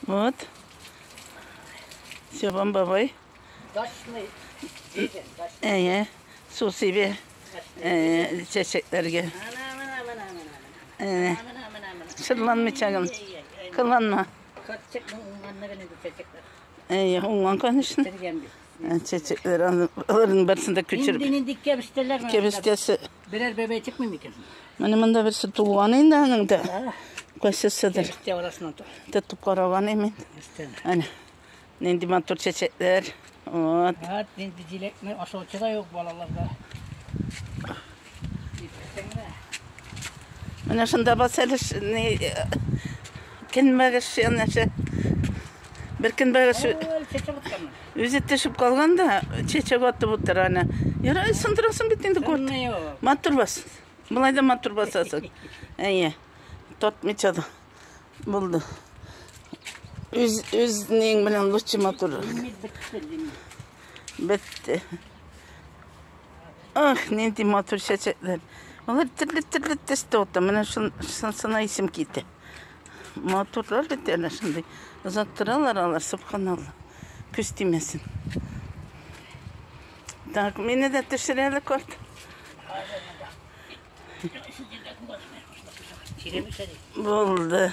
Вот. Сёбам бабай. Дачный. Әйе. Су сибе. Әйе, чәчәкләргә. Әйе. Шырланмый чагым. Кыланма. Әйе, уңган, конечно. Чәчәкләр, аларның берсендә күчереп. Инде инде кебештеләр. Кебештәсе. Берәр бәбәй чыкмый микән? Менә монда берсе туган инде аның да. Кайсысыдыр. Чәчәктә арасыннан тор. Тотып караган мин. Өстән. Әнә. Нинди матур чәчәкләр. Вот. Вот, нинди җиләкне ашаучы да юк балаларда. Менә шунда бас әле көнбагыш янәшә. Бер көн бара шул. Үзе төшеп калган да, чәчә батып утыр аны. Яра, сындырасың бит инде кот. Матур бас. Болай да матур басасың. Әйе. Тотмыйча да. Булды. Үз үзнең белән лучше матур. Бетте. Ах, нинди матур чәчәкләр. Алар төрле-төрле төстә ата. Менә шунсына исем китә. Матурлар бит әле шундый. Озак торалар алар, субханалла. Көз тимәсен. Так, мине дә төшерәле корт. Булды.